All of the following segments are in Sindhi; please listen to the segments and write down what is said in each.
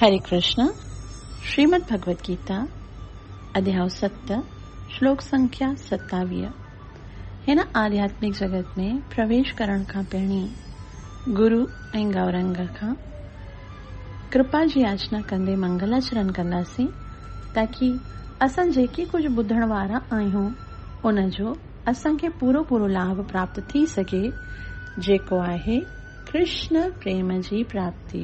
هري ڪرشنا، شريمد ڀڳوت گيتا، اڌياء ست، شلوڪ سنکيا ستاويهه، هن آڌياتمڪ جڳت ۾ پرويش ڪرڻ کان پهرين گرو ۽ گئورنگ کان ڪرپا جي ياچنا ڪندي منگلاچرن ڪنداسين تاڪي اسان جيڪي ڪجهه ٻڌڻ وارا آهيون ان جو اسان کي پورو پورو لاڀ پراپت ٿي سگهي جيڪو آهي ڪرشن پريم جي پراپتي.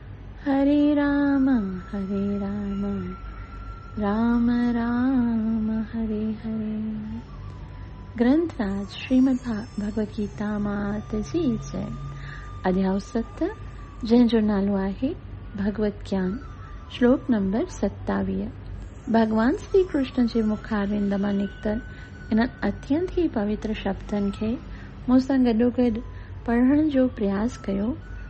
هري رام هري رام رام رام هري هري گرنٿ راج شريمد ڀاڳوت گيتا مات جي جئ اڌياء ست جنهن جو نالو آهي ڀڳوت گيان شلوڪ نمبر ستاويهه ڀڳوان شري ڪرشن جي مخارند مان نڪتل انهن اتينت ئي پوتر شبدن کي مون سان گڏوگڏ پڙهڻ جو پرياس ڪيو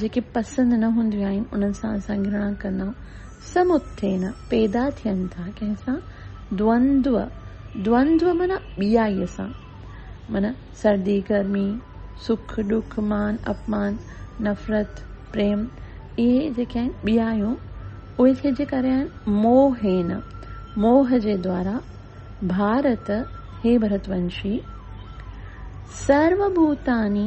جيڪي پسند نه هونديون آهن انهن سان اسان گهرڻا ڪندا سمتين پيدا ٿين ٿا ڪنهن سان دوندو دوندو معنيٰ ٻيائي سان معنيٰ سردي گرمي سک ڏک مان اپمان نفرت پريم اهي جيڪي آهن ٻيائيون اهي ٿي جي ڪري آهن موهين موهه جي دوارا ڀارت هي ڀرتونشي سرو ڀوتاني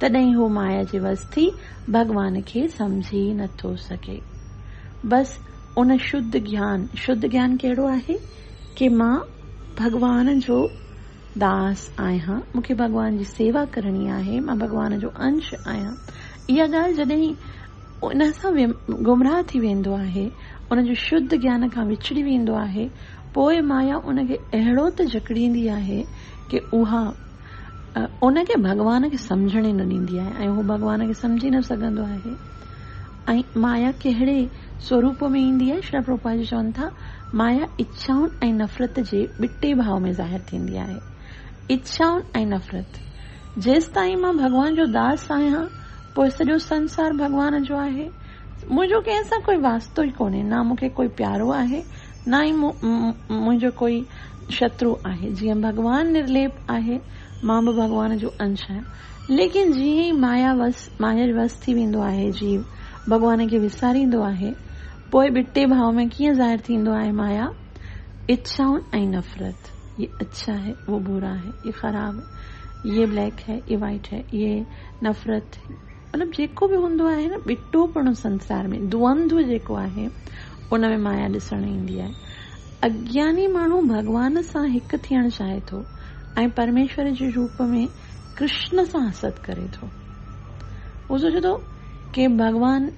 تڏهن هو مايا جي وس ٿي ڀڳوان کي سمجهي نه ٿو سگهي. بس ان شڌ گيان، شڌ گيان ڪهڙو آهي؟ ڪي مان ڀڳوان جو داس آهيان، مون کي ڀڳوان جي سيوا ڪرڻي آهي، مان ڀڳوان جو انش آهيان. اها ڳالهه جڏهن ان سان گمراهه ٿي ويندو آهي، ان جو شڌ گيان کان وڇڙي ويندو آهي، پوء مايا ان کي اهڙو ته جڪڙيندي آهي ڪي اها. ان کي ڀڳوان کي سمجهڻ ئي نه ڏيندي آهي ۽ هو ڀڳوان کي سمجهي نه سگهندو آهي ۽ مايا ڪهڙي سوروپ ۾ ايندي آهي شريلا پرڀوپاد جي چون ٿا مايا اڇائن ۽ نفرت جي ٻٽي ڀاء ۾ ظاهر ٿيندي آهي اڇائن ۽ نفرت جيستائين مان ڀڳوان جو داس آهيان پوء سڄو سنسار ڀڳوان جو آهي منهنجو ڪنهن سان ڪوئي واسطو ئي ڪونهي نه مون کي ڪوئي پيارو آهي نه ئي منهنجو ڪوئي شترو آهي، جيئن ڀڳوان نرليپ آهي، مان به ڀڳوان جو انش آهيان. ليڪن جيئن ئي مايا وس، مايا جي وس ٿي ويندو آهي جيو، ڀڳوان کي وساريندو آهي، پوء ٻٽي ڀاء ۾ ڪيئن ظاهر ٿيندو آهي مايا، اڇائون ۽ نفرت، يي اڇا هي، وو برا هي، يي خراب هي، يي بليڪ هي، يي وائيٽ هي، يي نفرت. مطلب جيڪو به هوندو آهي نه ٻٽو پڻو سنسار ۾ دوئنڌو جيڪو آهي ان ۾ مايا ڏسڻ ايندي آهي. اگياني ماڻهو ڀڳوان سان هڪ ٿيڻ چاهي ٿو ۽ پرميشور جي روپ ۾ ڪرشن سان حسد ڪري ٿو. هو سوچي ٿو ڪي ڀڳوان.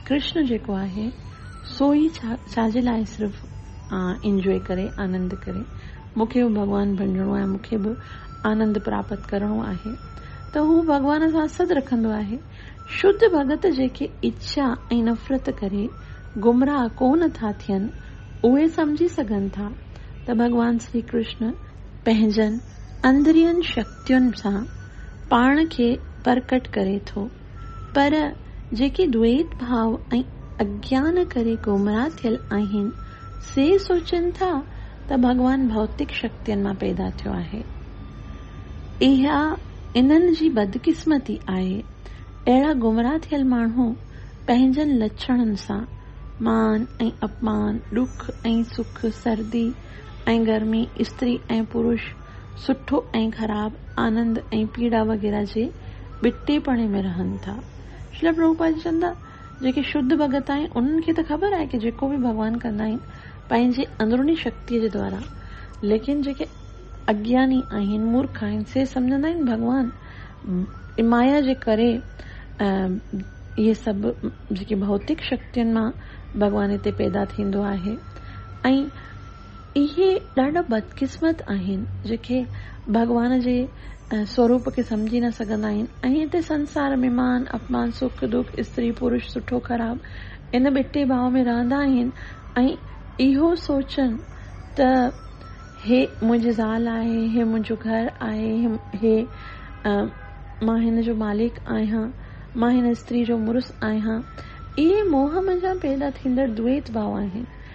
ڪرشن جيڪو آهي سو ئي ڇا جي لاء صرف انجوء ڪري، آنند ڪري. مون کي به ڀڳوان بڻجڻو آهي، مون کي به آنند پراپت ڪرڻو آهي ته هو ڀڳوان سان سڌ رکندو آهي. شڌ ڀڳت جيڪي اڇا ۽ نفرت ڪري گمراهه ڪو نه ٿا ٿين، اهي سمجهي سگهن ٿا ته ڀڳوان شري ڪرشن پنهنجن اندرين شڪتين سان پاڻ کي پرڪٽ ڪري ٿو. پر جيڪي دويت ڀاء ۽ اگيان ڪري گمراهه ٿيل آهن، سي سوچين ٿا ته ڀڳوان ڀوتڪ شڪتين مان پيدا ٿيو آهي. اها انهن جي بدقسمتي آهي. اهڙا گمراهه ٿيل ماڻهو پنهنجن لڇڻن سان مان ۽ اپمان، ڏک ۽ سک، سردي ۽ گرمي، استري ۽ پروش، سٺو ۽ خراب، آنند ۽ پيڙا وغيره جي ٻٽيپڻي ۾ رهن ٿا. شريلا پرڀوپاد جي چوندا جيڪي شڌ ڀڳت آهن انهن کي ته خبر آهي ته جيڪو به ڀڳوان ڪندا آهن پنهنجي اندروني شڪتيء جي دوارا ليڪن جيڪي اگياني آهن مورک آهن سي سمجهندا آهن ڀڳوان جي مايا جي ڪري اهي سڀ جيڪي ڀوتڪ شڪتين مان ڀڳوان هتي پيدا ٿيندو آهي ۽ اهي ڏاڍا بدقسمت آهن جيڪي ڀڳوان جي سوروپ کي سمجهي نه سگهندا آهن ۽ هتي سنسار ۾ مان اپمان سک دک استري پرش سٺو خراب ان ٻٽي ڀاء ۾ رهندا آهن ۽ اهو سوچن ته هي منهنجي زال آهي هي منهنجو گهر آهي هي مان هن جو مالڪ آهيان مان هن استري جو مڙس آهيان اهي موهه منجهان پيدا ٿيندڙ دويت ڀاء آهن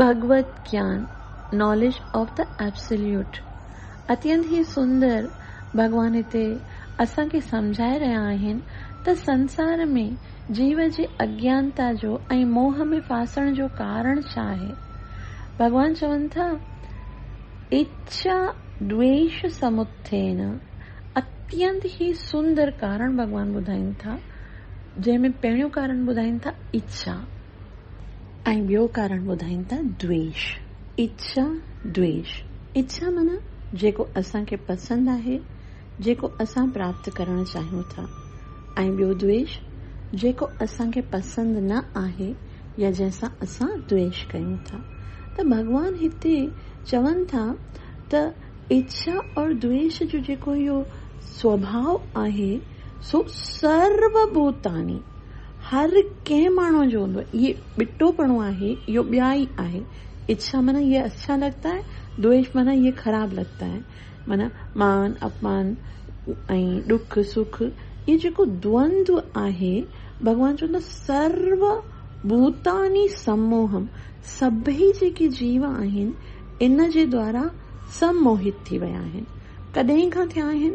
ڀڳوت گيان، Knowledge of the Absolute، اتينت هي سندر، ڀڳوان هتي اسان کي سمجهائي رهيا آهن ته سنسار ۾ جيو جي اجنتا جو ۽ موهه ۾ ڦاسڻ جو ڪارڻ ڇا آهي؟ ڀڳوان چون ٿا، اچا دويش سمٿين، اتينت هي سندر ڪارڻ ڀڳوان ٻڌائين ٿا، جنهن ۾ پهريون ڪارڻ ٻڌائين ٿا، اچا. ۽ ٻيو ڪارڻ ٻڌائين ٿا دويش، اچا دويش، اچا معنيٰ جيڪو اسان کي پسند آهي، جيڪو اسان پراپت ڪرڻ چاهيون ٿا ۽ ٻيو دويش جيڪو اسان کي پسند نه آهي يا جنهن سان اسان دويش ڪيون ٿا. ته ڀڳوان هتي چون ٿا ته اچا اور دويش جو جيڪو اهو سوڀاء آهي سو سرو ڀوتاني، هر ڪنهن ماڻهوء جو هوندو آهي. هي ٻٽوپڻو آهي، اهو ٻيائي آهي. اڇا معنيٰ يه اڇا لگتا هي، دويش معنيٰ يه خراب لگتا هي. معنيٰ مان اپمان ۽ ڏک سک اهو جيڪو دوند آهي، ڀڳوان چون ٿا سرو ڀوتاني سموهم، سڀئي جيڪي جيو آهن، ان جي دوارا سڀ موهت ٿي ويا آهن. ڪڏهن کان ٿيا آهن؟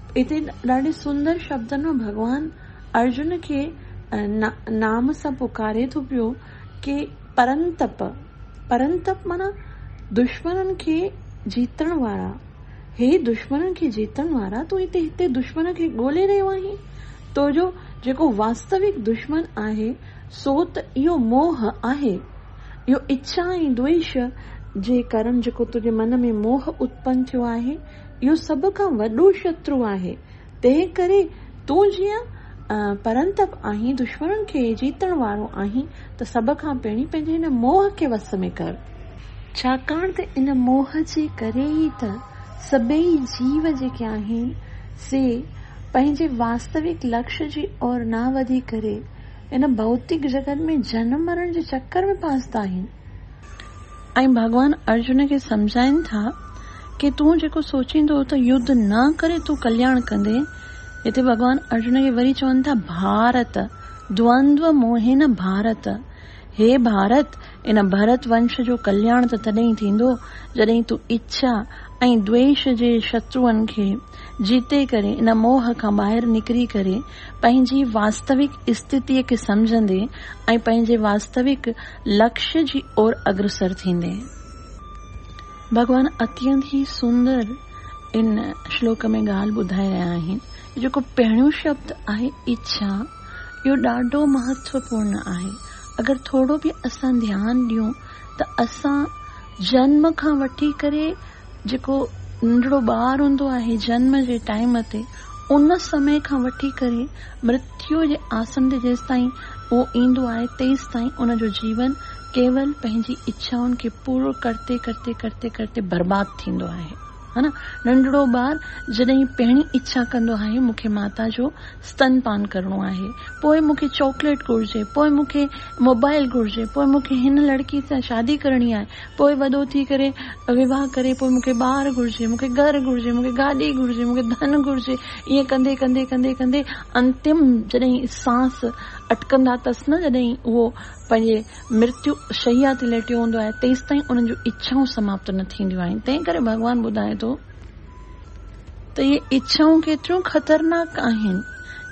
اتي ڏاڍي سندر شبدن ۾ ڀڳوان ارجن کي نام سان پڪاري ٿو پيو ڪي پرنتپ، پرنتپ معنيٰ دشمنن کي جيتڻ وارا، هي دشمنن کي جيتڻ وارا تون هتي هتي دشمن کي ڳولي رهيو آهين، تو جو جيڪو واستوڪ دشمن آهي سو ته اهو موهه آهي، اهو اڇا ۽ دوئيش جي ڪرڻ جيڪو تنهنجي من ۾ موهه اتپن ٿيو آهي، اهو سڀ کان وڏو شترو آهي، تنهن ڪري تون جيئن پرنتپ آهين، دشمنن کي جيتڻ وارو آهين ته سڀ کان پهرين پنهنجي هن موهه کي وس ۾ ڪر. ڇاڪاڻ ته ان موهه جي ڪري ئي ته سڀيئي جيو جيڪي آهن، سي پنهنجي واستوڪ لڪش جي اور نه وڌي ڪري، ان ڀوتڪ جڳت ۾ جنم مرڻ جي چڪر ۾ ڦاسندا آهن. ۽ ڀڳوان ارجن کي سمجهائين ٿا ڪي تون جيڪو سوچين ٿو ته يڌ نه ڪري تون ڪلياڻ ڪندين هتي ڀڳوان ارجن کي وري چون ٿا ڀارت دوندو موهين ڀارت هي ڀارت ان ڀرت ونش جو ڪلياڻ ته تڏهين ٿيندو جڏهين تون اڇا ۽ دويش جي شتروئن کي جيتي ڪري ان موهه کان ٻاهر نڪري ڪري پنهنجي واستوڪ استتيء کي سمجهندين ۽ پنهنجي واستوڪ لڪش جي اور اگرسر ٿيندي ڀڳوان اتينت ئي سندر ان شلوڪ ۾ ڳالهه ٻڌائي رهيا آهن. جيڪو پهريون شبد آهي اڇا اهو ڏاڍو مهتوپورن آهي. اگر ٿورو به اسان ڌيان ڏيون ته اسان جنم کان وٺي ڪري جيڪو ننڍڙو ٻار هوندو آهي جنم جي ٽائيم تي ان سمي کان وٺي ڪري مرتيو جي آسن تي جيستائين اهو ايندو آهي تيستائين ان جو جيون ڪيول پنهنجي اڇائن کي پورو ڪرتي ڪرتي ڪرتي ڪرتي برباد ٿيندو آهي ها نه ننڍڙو ٻار جڏهين پهرين اڇا ڪندو آهي مون کي ماتا جو ستن پان ڪرڻو آهي پوء مون کي چاڪليٽ گهرجي پوء مون کي موبائل گهرجي پوء مون کي هن لڙڪي سان شادي ڪرڻي آهي پوء وڏو ٿي ڪري وواهه ڪري پوء مون کي ٻار گهرجي، مون کي گهر گهرجي، مون کي گاڏي گهرجي، مون کي ڌن گهرجي، ائين ڪندي ڪندي ڪندي ڪندي انتم جڏهن سانس اٽڪندا اٿس نه جڏهن اهو پنهنجي مرتيو شيا تي ليٽيو هوندو آهي تيستائين انهن جون اڇائون سماپت نه ٿينديون آهن تنهن ڪري ڀڳوان ٻڌائي ٿو ته اهي اڇائون ڪيتريون خطرناڪ آهن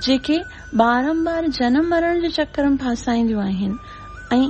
جيڪي بارمبار جنم مرڻ جي چڪر ۾ ڦاسائينديون آهن ۽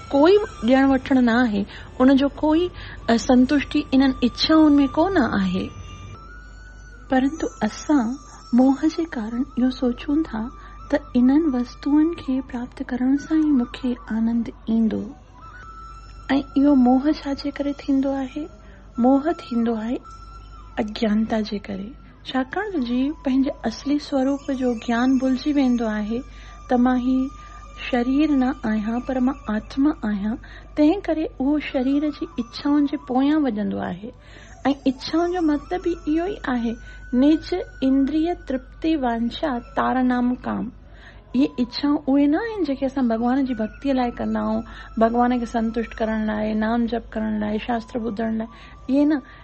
ڪوئي ڏيڻ وٺڻ نه آهي، ان جو ڪوئي سنتشٽي انهن اڇائن ۾ ڪو نه آهي. پرنتو اسان موهه جي ڪارڻ اهو سوچون ٿا ته انهن وستوئن کي پراپت ڪرڻ سان ئي مون کي آنند ايندو ۽ اهو موهه ڇا جي ڪري ٿيندو آهي؟ موهه ٿيندو آهي اجيانتا جي ڪري. ڇاڪاڻ ته جي پنهنجي اصلي سوروپ جو گيان ڀلجي ويندو آهي ته مان هي شرير نه آهيان پر مان آتما آهيان تنهن ڪري اهو شرير جي اڇائن جي پويان وڄندو آهي ۽ اڇائن جو مطلب ئي اهو ئي آهي نج اندريه ترپتي وانڇا تار نام ڪام اهي اڇائون اهي نه آهن جيڪي اسان ڀڳوان جي ڀڳتي لاء ڪندا آهيون ڀڳوان کي سنتشٽ ڪرڻ لاء نام جپ ڪرڻ لاء شاستر ٻڌڻ لاء اهي نه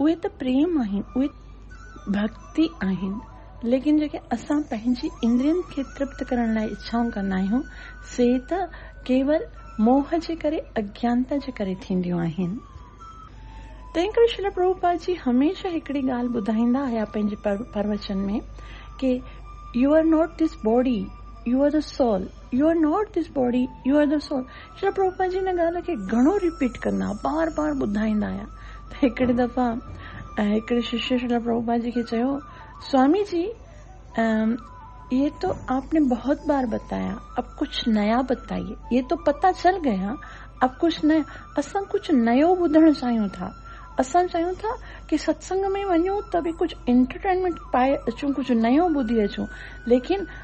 اهي ته پريم آهن، اهي ڀڳتي آهن، ليڪن جيڪي اسان پنهنجي اندرين کي ترپت ڪرڻ لاء اڇائون ڪندا آهيون، سي ته ڪيول موهه جي ڪري، اجناتا جي ڪري ٿينديون آهن. تنهن ڪري شريلا پرڀوپاد جي هميشه هڪڙي ڳالهه ٻڌائيندا آيا پنهنجي پروچن ۾ ڪي you are not this body, you are the soul, you are not this body, you are the soul, شاهه پروف پنهنجي ان ڳالهه کي گهڻو ريپيٽ ڪندا هئا، بار بار ٻڌائيندا هيا ته هڪڙي دفعا هڪڙي ششيء شريلا پروپاڌ جي کي چيو، سوامي جي، اهي تو آپ ني بهت بار بتايا، اب ڪجهه نيا بتائيي، اهي تو پتا چل گيا، اب ڪجهه نيا، اسان ڪجهه نيو ٻڌڻ چاهيون ٿا، اسان چاهيون ٿا ڪي ستسنگ ۾ وڃون ته به ڪجهه انٽرٽينمينٽ پائي اچون، ڪجهه نيو ٻڌي اچون، ليڪن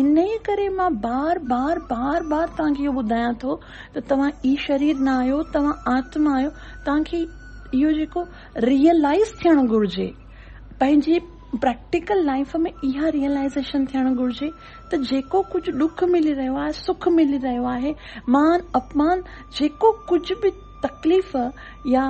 انهيء ڪري مان بار بار بار بار توهان کي اهو ٻڌايان ٿو ته توهان ئي شرير نه آهيو، توهان آتما آهيو، توهان کي اهو جيڪو ريئلائيز ٿيڻ گهرجي، پنهنجي پريڪٽيڪل لائيف ۾ اها ريئلائيزيشن ٿيڻ گهرجي ته جيڪو ڪجهه ڏک ملي رهيو آهي، سک ملي رهيو آهي، مان اپمان جيڪو ڪجهه به. تڪليف يا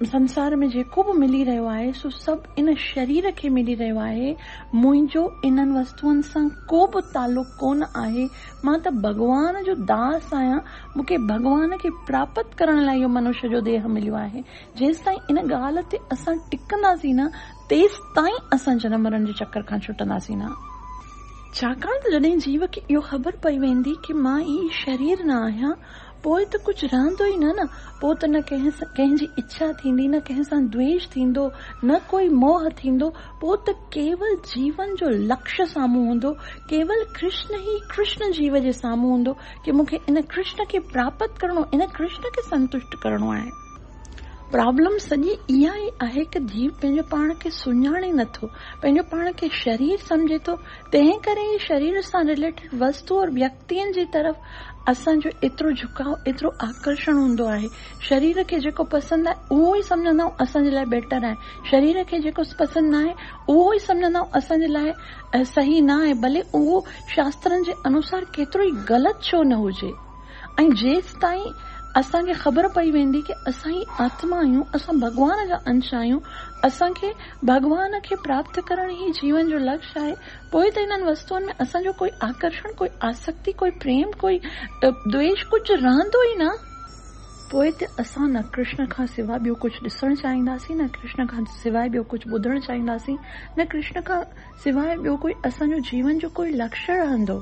سنسار ۾ جيڪو به ملي رهيو آهي سو سڀ ان شرير کي ملي رهيو آهي، منهنجو انهن وستون سان ڪو به تعلق ڪونه آهي، مان ته ڀڳوان جو داس آهيان، مون کي ڀڳوان کي پراپت ڪرڻ لاء اهو منوش جو ديهه مليو آهي، جيستائين ان ڳالهه تي اسان ٽڪنداسين نه تيستائين اسان جنم مرڻ جي چڪر کان ڇٽنداسين نه. ڇاڪاڻ ته جڏهن جيو کي اهو خبر پئي ويندي ته مان هي شرير نه آهيان، پوء ته ڪجهه رهندو ئي نه نه، پوء ته نه ڪنهن جي اڇا ٿيندي، نه ڪنهن سان دويش ٿيندو، نه ڪوئي موهه ٿيندو، پوء ته ڪيول جيون جو لڪش سامهون هوندو، ڪيول ڪرشن ئي ڪرشن جيو جي سامهون هوندو ڪي مون کي ان ڪرشن کي پراپت ڪرڻو، ان ڪرشن کي سنتشٽ ڪرڻو آهي. پرابلم سڄي اها ئي آهي ته جيو پنهنجو پاڻ کي سڃاڻي نه ٿو، پنهنجو پاڻ کي شرير سمجهي ٿو، تنهن ڪري ئي شرير سان رليٽيڊ وستو اور ويڪتين جي طرف اسان جو ايترو جهڪاء، ايترو آڪرشڻ هوندو آهي. شرير کي جيڪو پسند آهي اهو ئي سمجهندا آهيون اسان جي لاء بيٽر آهي. شرير کي جيڪو پسند نه آهي اهو ئي سمجهندا آهيون اسان جي لاء صحيح نه آهي ڀلي اهو شاسترن جي انوسار ڪيترو ئي غلط ڇو نه هجي. ۽ جيستائين اسان کي خبر پئي ويندي ڪي اسان ئي آتما آهيون، اسان ڀڳوان جا انش آهيون، اسان کي ڀڳوان کي پراپت ڪرڻ ئي جيون جو لڪش آهي، پوء ته انهن وستوئن ۾ اسان جو ڪوئي آڪرشڻ، ڪوئي آسڪتي، ڪوئي پريم، ڪوئي دويش ڪجهه رهندو ئي نه. پوء ته اسان نه ڪرشن کان سواء ٻيو ڪجهه ڏسڻ چاهينداسين، نه ڪرشن کان سواء ٻيو ڪجهه ٻڌڻ چاهينداسين، نه ڪرشن کان سواء ٻيو ڪوئي اسان جو جيون جو ڪوئي لڪش رهندو.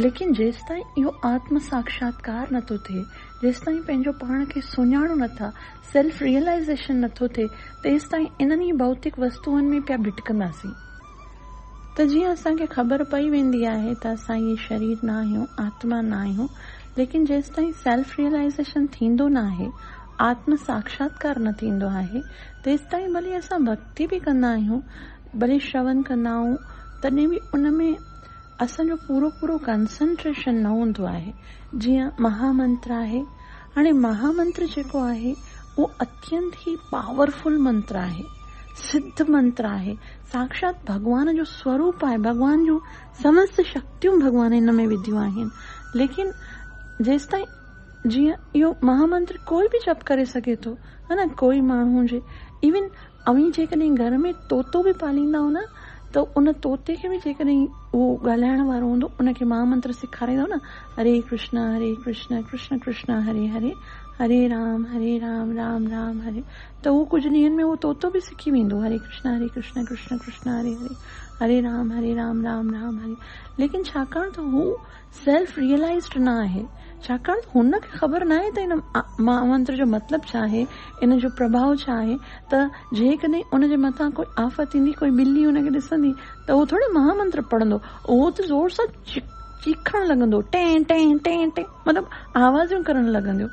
ليڪن جيستائين اهو آتم ساکشاتڪار نٿو ٿئي، جيستائين پنهنجو پاڻ کي سڃاڻون نٿا، سيلف ريئلائيزيشن نٿو ٿئي تيستائين انهن ئي ڀوتڪ وستوئن ۾ پيا ڀٽڪنداسين ته جيئن اسان کي خبر پئي ويندي آهي ته اسان اهي شرير نه آهيون، آتما نه آهيون، ليڪن جيستائين سيلف ريئلائيزيشن ٿيندو نه آهي، آتم ساکشاتڪار نه ٿيندو آهي، تيستائين ڀلي اسان ڀڳتي به ڪندا آهيون، ڀلي شرون ڪندا آهون تڏهن به ان ۾ اسان جو پورو پورو ڪنسنٽريشن نه هوندو آهي، جيئن مها منتر آهي، هاڻي مها منتر جيڪو آهي اهو اتينت ئي پاورفل منتر آهي، سڌ منتر آهي، ساکشات ڀڳوان جو سوروپ آهي، ڀڳوان جون سمست شڪتيون ڀڳوان هن ۾ وڌيون آهن، ليڪن جيستائين جيئن اهو مها منتر ڪوئي به جپ ڪري سگهي ٿو، ها نه ڪوئي ماڻهو هجي ايون اوهين جيڪڏهن گهر ۾ طوطو به پاليندائو نه ته ان طوطي کي به جيڪڏهن اهو ڳالهائڻ وارو هوندو ان کي مها منتر سيکاريندائو نه هري ڪرشنا هري ڪرشنا ڪرشنا ڪرشنا هري هري هري رام هري رام رام رام هري ته اهو ڪجهه ڏينهن ۾ اهو طوطو به سکي ويندو هري ڪرشنا هري ڪرشنا ڪرشنا ڪرشنا هري هري هري رام هري رام رام رام هري ليڪن ڇاڪاڻ ته هو سيلف ريئلائيزڊ نه آهي، ڇاڪاڻ ته هن کي خبر ناهي ته ان مهامنتر جو مطلب ڇا آهي، ان جو پرڀاء ڇا آهي ته جيڪڏهن ان جي مٿان ڪوئي آفت ايندي، ڪوئي ٻلي ان کي ڏسندي ته اهو ٿوري مهامنتر پڙهندو، اهو ته زور سان چيخڻ لڳندو، ٽين ٽين ٽين ٽين مطلب آوازيون ڪرڻ لڳندو،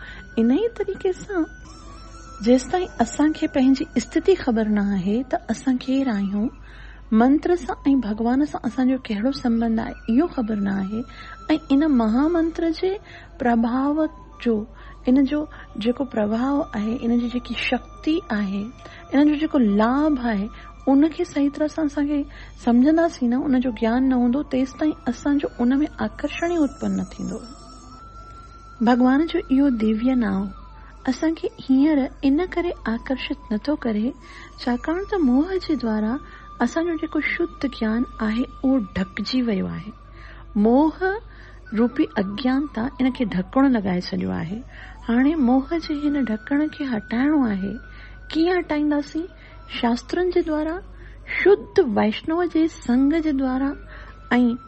انهيء طريقي سان جيستائين اسان کي پنهنجي استٿي خبر نه آهي ته اسان ڪير آهيون، منتر سان ۽ ڀڳوان سان اسان جو ڪهڙو سنٻنڌ آهي، اهو خبر نه آهي ۽ ان مها منتر جي پرڀاء جو، ان جو جيڪو پرڀاء آهي، ان جي جيڪي شڪتي آهي، ان جو جيڪو لاڀ آهي، ان کي صحيح طرح سان اسان کي سمجهنداسين نه، ان جو گيان نه هوندو، تيستائين اسان جو ان ۾ آڪرشڻ ئي اتپن نه ٿيندو. ڀڳوان جو اهو ديويه نانء. اسان کي هينئر ان ڪري آڪرشت نٿو ڪري ڇاڪاڻ ته موهه جي دوارا اسان جو جيڪو شڌ گيان آهي اهو ڍڪجي ويو آهي. موهه روپي اگيانتا ان کي ڍڪڻ لڳائي ڇڏيو آهي. هاڻي موهه جي هن ڍڪڻ کي هٽائڻو آهي. ڪيئن هٽائينداسين؟ شاسترن جي دوارا، شڌ وئشنو جي سنگ جي دوارا ۽.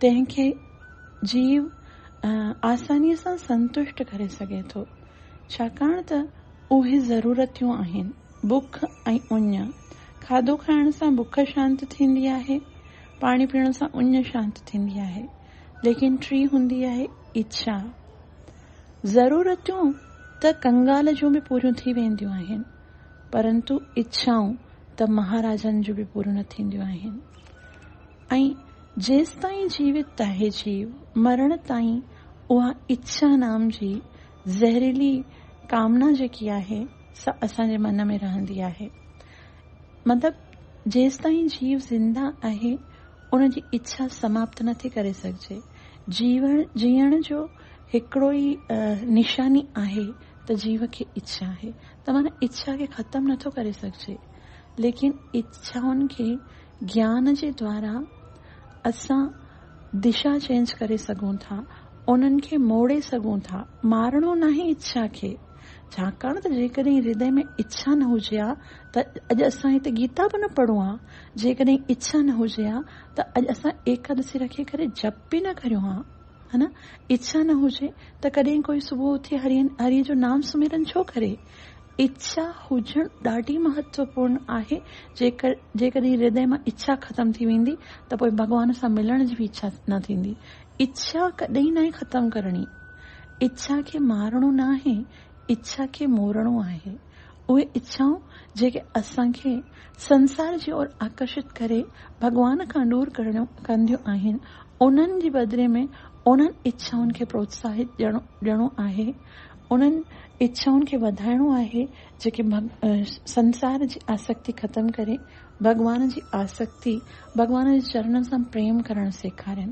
تنهن کي جيو آسانيء سان سنتشٽ ڪري سگهي ٿو، ڇاڪاڻ ته اهي ضرورتيون آهن، بک ۽ اڃ. کاڌو کائڻ سان بک شانت ٿيندي آهي، پاڻي پيئڻ سان اڃ شانت ٿيندي آهي، ليڪن ٽين هوندي آهي اڇا. ضرورتيون ته ڪنگال جون به پوريون ٿي وينديون آهن، پرنتو اڇائون ته مهاراجن جون به پوريون نه ٿينديون آهن. ۽ جيستائين جيوت آهي جيو، مرڻ تائين اها اڇا نام جي زهريلي ڪامنا جيڪي آهي سا اسان جي من ۾ رهندي آهي. مطلب جيستائين جيو زنده آهي ان جي اڇا سماپت نٿي ڪري سگهجي. جيوڻ، جيئڻ جو هڪڙو ئي نشاني آهي ته جيو کي اڇا آهي ته معنيٰ اڇا کي ختم نٿو ڪري سگهجي ليڪن اڇائن کي گيان جي دوارا اسان دشا چينج ڪري سگهون ٿا، انهن کي موڙي سگهون ٿا، مارڻو ناهي اڇا کي، ڇاڪاڻ ته جيڪڏهن هردي ۾ اڇا نه هجي ها ته اڄ اسان هتي گيتا به نه پڙهون ها، جيڪڏهن اڇا نه هجي ها ته اڄ اسان ايڪادسي رکي ڪري جپ به نه ڪريون ها، هن اڇا نه هجي ته ڪڏهن ڪوئي صبح اٿي هري جو نام سميرن ڇو ڪري، اڇا هجڻ ڏاڍي مهتوپورن آهي، جيڪڏهن هردي مان اڇا ختم ٿي ويندي ته پوء ڀڳوان سان ملڻ جي به اڇا نه ٿيندي. اڇا ڪڏهن ناهي ختم ڪرڻي. اڇا کي مارڻو ناهي، اڇا کي مورڻو آهي. اهي اڇائون جيڪي اسان کي سنسار جي اور آڪرشت ڪري ڀڳوان کان ڏور ڪنديون آهن، انهن جي بدلي ۾ انهن اڇائن کي پروتساهت ڏيڻو آهي. انهن اڇائن کي وڌائڻو آهي جيڪي سنسار جي آسڪتي ختم ڪري ڀڳوان جي آسڪتي، ڀڳوان جي چرڻن سان پريم ڪرڻ سيکارين.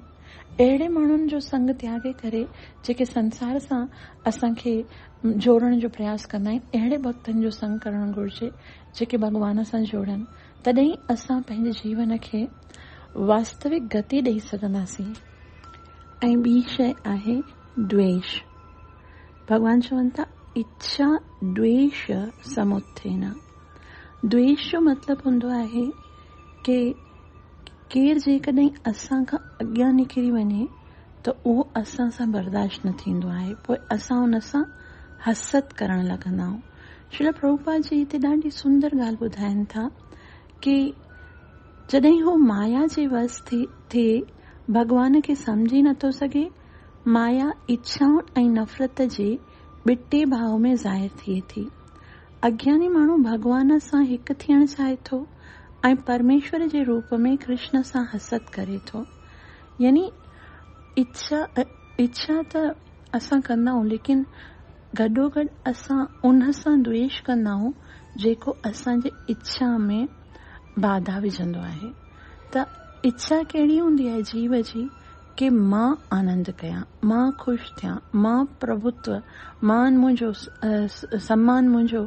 اهڙي ماڻهن جو سنگ تياڳي ڪري جيڪي سنسار سان اسان کي جوڙڻ جو پرياس ڪندا آهن، اهڙي ڀڳتن جو سنگ ڪرڻ گهرجي جيڪي ڀڳوان سان جوڙن، تڏهن ئي اسان پنهنجي جيون کي واستوڪ گتي ڏئي سگهنداسين. ۽ ٻي شيء آهي دويش. ڀڳوان چون ٿا اچا دويش سموتٿينا، دويش جو مطلب هوندو آهي ڪي ڪير جيڪڏهن اسان کان اڳيان نڪري وڃي ته اهو اسان سان برداشت نه ٿيندو آهي پوء اسان ان سان حسد ڪرڻ لڳندا آهيون. شريل پرڀوپاد جي هتي ڏاڍي سندر ڳالهه ٻڌائين ٿا ڪي جڏهن هو مايا جي وس ٿي ٿئي ڀڳوان کي سمجهي نٿو سگهي، مايا اڇائن ۽ نفرت جي ٻٽي ڀاء ۾ ظاهر ٿئي ٿي. اگياني ماڻهو ڀڳوان سان هڪ ٿيڻ چاهي ٿو ۽ پرميشور جي روپ ۾ ڪرشن سان حسد ڪري ٿو. يعني اڇا ته اسان ڪندا آهيون ليڪن گڏوگڏ اسان ان سان دويش ڪندا آهيون جيڪو اسان جي اڇا ۾ باڌا وجهندو آهي. ته اڇا ڪهڙي هوندي آهي جيو جي؟ ڪي مان آنند ڪيان، مان خوش ٿيان، مان پرڀوتو، مان منهنجو، سمان منهنجو،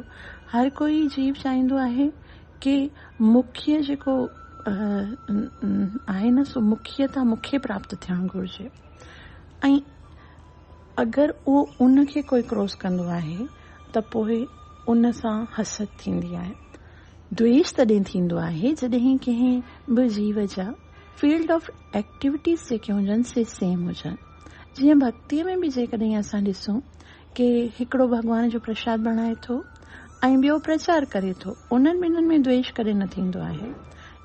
هر ڪو هي جيو چاهيندو آهي ڪي مکي جيڪو آهي نه سو مکي تان مکي پراپت ٿيڻ گهرجي ۽ اگر اهو ان کي ڪوئي ڪروس ڪندو آهي ته پوء ان سان حسد ٿيندي آهي، دويش تڏهن ٿيندو آهي جڏهن ڪنهن به جيو جا. فيلڊ آف ايڪٽيوٽيز جيڪي هجن سي سيم هجن جيئن ڀڳتي ۾ به جيڪڏهن اسان ڏسون ڪي هڪڙو ڀڳوان جو پرشاد بڻائي ٿو ۽ ٻيو پرچار ڪري ٿو انهن ٻنهن ۾ دويش ڪڏهن نه ٿيندو آهي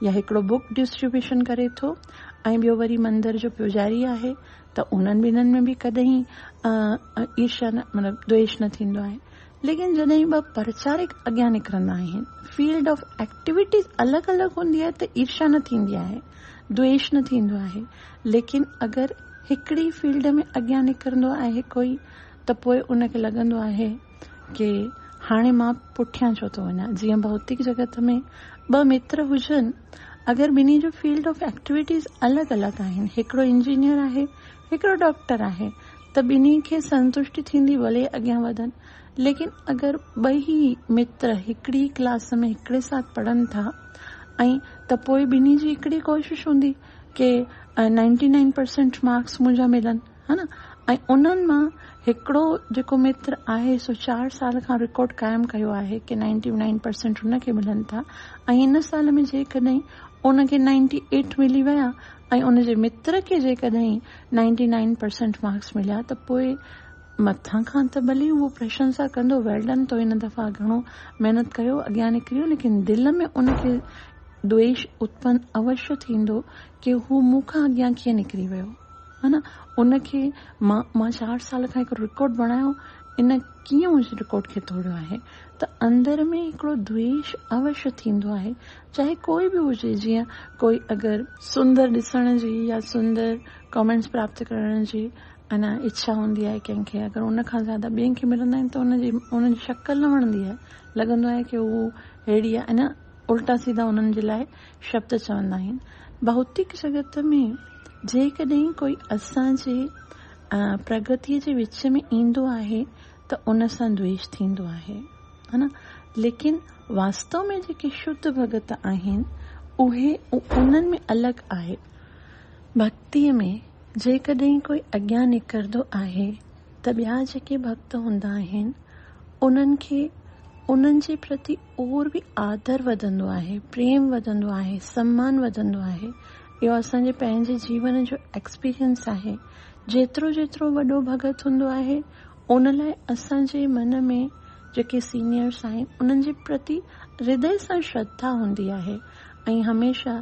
يا هڪڙو بوڪ ڊسٽريبيوشن ڪري ٿو ۽ ٻيو وري مندر جو پوجاري آهي ته انهن ٻنهن ۾ به ڪڏهن ئي ايرشا نه مطلب دويش نه ٿيندو آهي ليڪن جڏهن ٻه پرچارڪ اڳيان نڪرندا آهن، فيلڊ آف ايڪٽيويٽيز الڳ الڳ هوندي آهي ته عيرشا نه ٿيندي آهي، دوئيش نه ٿيندو آهي، ليڪن اگر هڪڙي فيلڊ ۾ اڳيان نڪرندو آهي ڪوئي ته پوء ان کي لڳندو آهي ڪي هاڻي مان پٺيان ڇو ٿو وڃان، جيئن ڀوتڪ جڳت ۾ ٻه متر هجن، اگر ٻنهي جو فيلڊ آف ايڪٽيويٽيز الڳ الڳ آهن، هڪڙو انجنيئر آهي، هڪڙو ڊاڪٽر آهي، ته ٻنهي کي سنتشٽي ٿيندي ڀلي اڳيان وڌن ليڪن اگر ٻئي متر هڪڙي ڪلاس ۾ هڪڙي ساٿ پڙهن ٿا ائين ته پوء ٻنهي جي هڪڙي ڪوشش هوندي ڪي نائنٽي نائن پرسينٽ مارڪس منهنجا ملن ها نه ۽ انهن مان هڪڙو جيڪو متر آهي سو چار سال کان رڪارڊ قائم ڪيو آهي ڪي نائنٽي نائن پرسينٽ هن کي ملن ٿا ۽ ان سال ۾ جيڪڏهن ان کي نائنٽي ايٽ ملي ويا ۽ ان جي متر کي جيڪڏهن نائنٽي نائن پرسنٽ مارڪس مليا ته پوء مٿان کان ته ڀلي اهو پرشنسا ڪندو ويل ڊن تو هن دفعا گهڻو محنت ڪيو اڳيان نڪريو ليڪن دل ۾ ان کي دويش اتپن اوشي ٿيندو ڪي هو مون کان اڳيان ڪيئن نڪري ويو هن ان کي مان مان چار سال کان هڪڙو رڪارڊ بڻايو ان ڪيئن منهنجي رڪارڊ کي ٿوڙيو آهي ته اندر ۾ هڪڙو دويش اوشي ٿيندو آهي چاهي ڪوئي به هجي جيئن ڪوئي اگر سندر ڏسڻ جي يا سندر ڪمينٽس پراپت ڪرڻ جي انا اڇا هوندي آهي ڪنهن کي اگر ان کان زياده ٻين کي ملندا آهن ته ان جي ان جي شڪل نه وڻندي آهي لڳندو آهي ڪي هو ههڙي آهي انا الٽا سيدا انهن جي لاء شبد چوندا آهن ڀوتيڪ جڳت ۾ جيڪڏهن ڪوئي اسان جي پرگتي جي وچ ۾ ايندو آهي ته ان سان دويش ٿيندو آهي هن ليڪن واستو ۾ جيڪي شڌ ڀڳت آهن اهي انهن ۾ الڳ آهي ڀڳتي ۾ جيڪڏهن ڪوئي اڳيان نڪردو آهي ته ٻيا جيڪي ڀڳت هوندا آهن انهن کي انهن جي پرتي اور به آدر وڌندو آهي پريم وڌندو آهي سمان وڌندو آهي اهو اسان جي پنهنجي جيون جو ايڪسپيرينس آهي جيترو جيترو وڏو ڀڳت هوندو آهي ان لاء اسان جي من ۾ جيڪي سينيئرس آهن انهن جي پرتي هردئي سان شرڌا هوندي آهي ۽ هميشه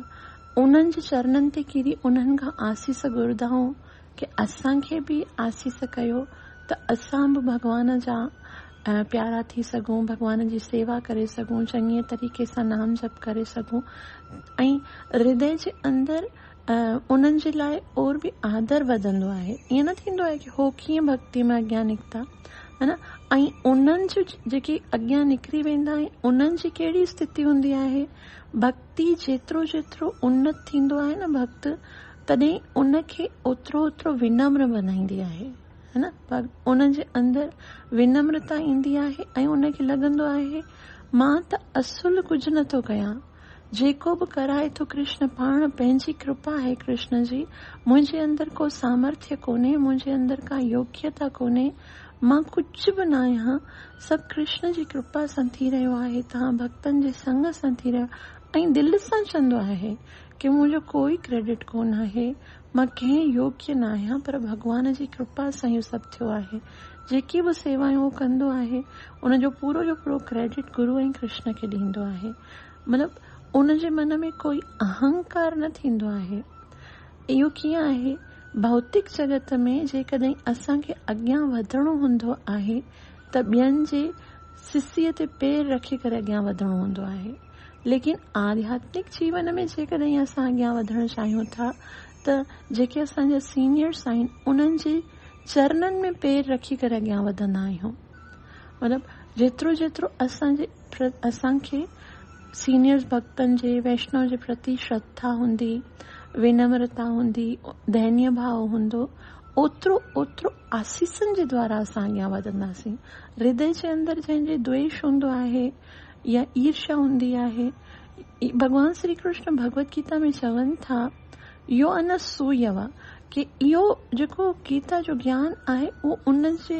انهن جي چرنن تي ڪري انهن کان آسيس گهردا آهيون ڪي اسان کي به آسيس ڪيو ته اسان به ڀڳوان جا پيارا ٿي سگهون ڀڳوان جي سيوا ڪري سگهون چڱي طريقي سان نام جپ ڪري سگهون ۽ هردئي جي اندر ۽ انهن جي لاء اور به آدر وڌندو آهي. ائين نه ٿيندو آهي ڪي هو ڪيئن ڀڳتي ۾ اڳيان نڪتا هن ۽ انهن جون جيڪي اڳيان نڪري ويندا آهن انهن جي ڪهڙي استٿتي هوندي آهي. ڀڳتي جيترو جيترو انت ٿيندو آهي نه ڀڳت تڏهن ان کي اوترو اوترو ونمر بنائيندي آهي هن انهن جي اندر ونمرتا ايندي آهي ۽ ان کي لڳندو آهي مان ته اصل ڪجهه نه ٿو ڪيان جيڪو به ڪرائي ٿو ڪرشن پاڻ پنهنجي ڪرپا آهي ڪرشن جي منهنجي اندر ڪو سامرٿيا ڪونهي منهنجي اندر ڪا يوگيتا ڪونهي مان ڪجهه به نه آهيان سڀ ڪرشن جي ڪرپا سان ٿي رهيو آهي توهان ڀڳتن جي سنگ سان ٿي رهيو ۽ دل سان چوندو آهي ڪي منهنجو ڪوئي ڪريڊٽ ڪونه آهي مان ڪنهن يوگي نه آهيان پر ڀڳوان جي ڪرپا سان اهو سڀ ٿيو آهي جيڪي به سيوايون هو ڪندو آهي ان جو پورو جو پورو ڪريڊٽ گرو ۽ ڪرشن کي ڏيندو آهي مطلب ان جي من ۾ ڪوئي اهنڪار نه ٿيندو آهي. اهو ڪيئن آهي؟ ڀوتڪ جڳت ۾ جيڪڏهن اسان کي اڳيان وڌڻو هوندو آهي ته ٻين جي سسيء تي پير رکي ڪري اڳيان وڌڻو هوندو آهي. ليڪن آڌياتمڪ جيون ۾ جيڪڏهن اسان اڳيان وڌڻ چاهيون ٿا ته جيڪي اسان جا سينيئرس آهن انهن جي چرنن ۾ پير رکي ڪري اڳيان وڌندا آهيون. مطلب جيترو جيترو اسان جي پر اسان کي سينيئرز ڀڳتن جي ويشنو جي پرتي شرڌا هوندي، ونمرتا هوندي، دينيه ڀاء هوندو، اوترو اوترو آسيسن جي دوارا اسان اڳيان وڌنداسين. هردي جي اندر جنهن جي دويش هوندو آهي يا عيرشا هوندي آهي، ڀڳوان شري ڪرشن ڀڳوت گيتا ۾ چون ٿا، يو ان سويوا، ڪي اهو جيڪو گيتا جو گيان آهي اهو ان جي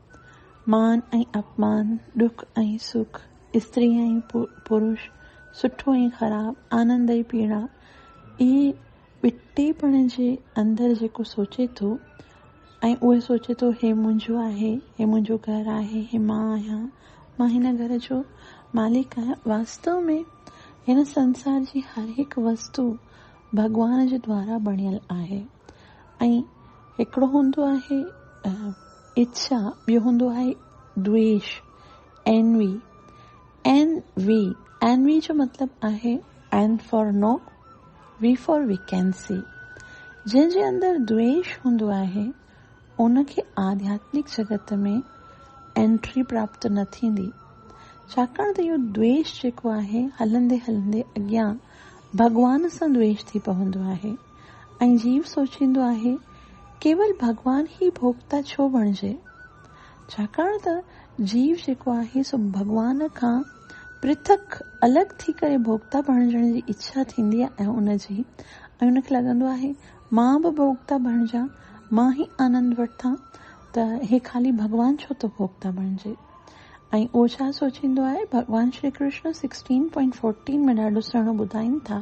مان ۽ اپمان، ڏک ۽ سک، استري ۽ پروش، سٺو ۽ خراب، آنند ۽ پيڙا، اهي ٻٽي پڻ جي اندر جيڪو سوچي ٿو ۽ اهو سوچي ٿو هي منهنجو آهي، هي منهنجو گهر آهي، هي مان آهيان، مان هن گهر جو مالڪ آهيان، واستو ۾ هن سنسار جي هر هڪ وستو ڀڳوان جي دوارا بڻيل آهي. ۽ هڪڙو هوندو آهي ايتسا، ٻيو هوندو آهي دويش، اينوي، اين وي، اينوي جو مطلب آهي N for no V for vacancy, جنهن جي اندر دويش هوندو آهي ان کي آڌياتمڪ جڳت ۾ اينٽري پراپت نه ٿيندي، ڇاڪاڻ ته اهو دويش جيڪو آهي هلندي هلندي اڳيان ڀڳوان سان دويش ٿي پوندو آهي. ۽ جيو سوچيندو آهي، ڪيول ڀڳوان ئي ڀوڳتا ڇو بڻجي؟ ڇاڪاڻ ته جيو جيڪو آهي سو ڀڳوان کان پرٿڪ، الڳ، ٿي ڪري ڀوڳتا بڻجڻ جي اڇا ٿيندي آهي ۽ ان جي ۽ ان کي لڳندو آهي مان به ڀوڳتا بڻجان، مان ئي آنند وٺان ته هي خالي ڀڳوان ڇو ٿو ڀوڳتا بڻجي؟ ۽ اهو ڇا سوچيندو آهي؟ Bhagwan Shri Krishna sixteen point fourteen ۾ ڏاڍو سهڻو ٻڌائين ٿا.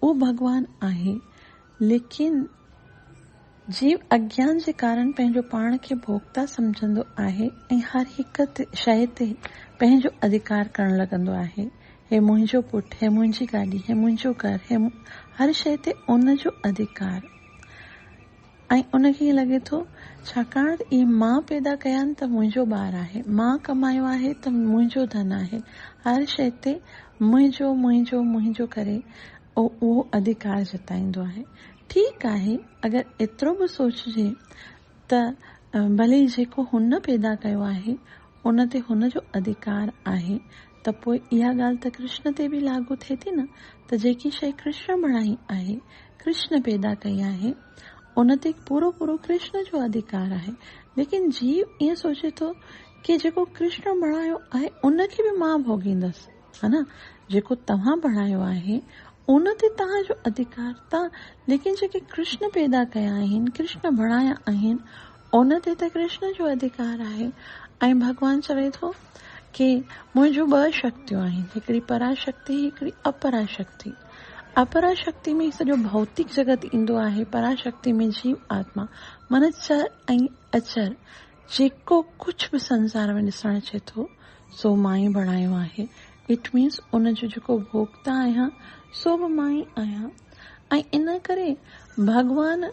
اهو ڀڳوان آهي، ليڪن جيو اگيان جي ڪارڻ پنهنجو پاڻ کي ڀوڳتا سمجهندو آهي ۽ هر هڪ شيء تي پنهنجو اڌڪار ڪرڻ لڳندو آهي. هي منهنجو پٽ، هي منهنجي گاڏي، هي منهنجو گهر، هي هر شيء تي ان جو اڌڪار. ۽ ان کي ائين لڳي ٿو ڇاڪاڻ ته اهي مان پيدا ڪيا آهن ته منهنجو ٻار آهي، مان ڪمايو آهي ته منهنجو ڌن آهي، هر شيء تي منهنجو، منهنجو، منهنجو ڪري هو اهو اڌيڪار جتائيندو آهي. ٺيڪ آهي اگر ايترو به سوچجي ته ڀلي جيڪو هن پيدا ڪيو آهي ان تي هن جو اڌيڪار آهي ته پوء اها ڳالهه ته ڪرشن تي به لاڳو ٿئي ٿي نه ته جيڪي شيء ڪرشن بڻائي آهي، ڪرشن پيدا ڪئي آهي، ان تي پورو پورو ڪرشن جو ادهيڪار آهي. ليڪن جيو ائين سوچي ٿو ڪي جيڪو ڪرشن بڻايو آهي ان کي به مان ڀوڳيندس ها نه جيڪو توهان بڻايو آهي ان تي توهان جو ادهيڪار ته ليڪن جيڪي ڪرشن پيدا ڪيا آهن، ڪرشن بڻايا آهن، ان تي ته ڪرشن جو اڌڪار آهي ۽ ڀڳوان چوي ٿو ڪي منهنجون ٻه شڪتيون آهن هڪڙي پرا شڪتي هڪڙي اپرا شڪتي اپرا شڪتي ۾ سڄو ڀوتڪ جڳت ايندو آهي پرا شڪتي ۾ جيو آتما من چر ۽ اچر جيڪو ڪجهه به سنسار ۾ ڏسڻ اچي ٿو سو مان ئي بڻايو آهي اٽ مينس ان جو جيڪو ڀوڳتا آهيان سو به مان ئي آهيان ۽ ان ڪري ڀڳوان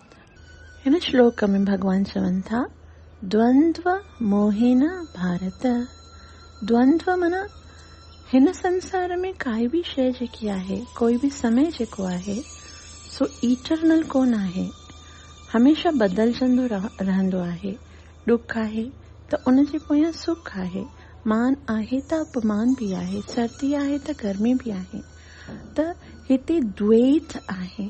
هن شلوڪ ۾ ڀڳوان چون ٿا دوندو موهين ڀارت، دوندو معنيٰ هن سنسار ۾ ڪائي به شيء جيڪي آهي، ڪوئي به سمي جيڪو آهي سو ايٽرنل ڪونه آهي، هميشه بدلجندو رهندو آهي، ڏک آهي ته ان جي پويان سک آهي، مان آهي ته اپمان به آهي، سردي آهي ته گرمي به آهي ته هتي دويت آهي.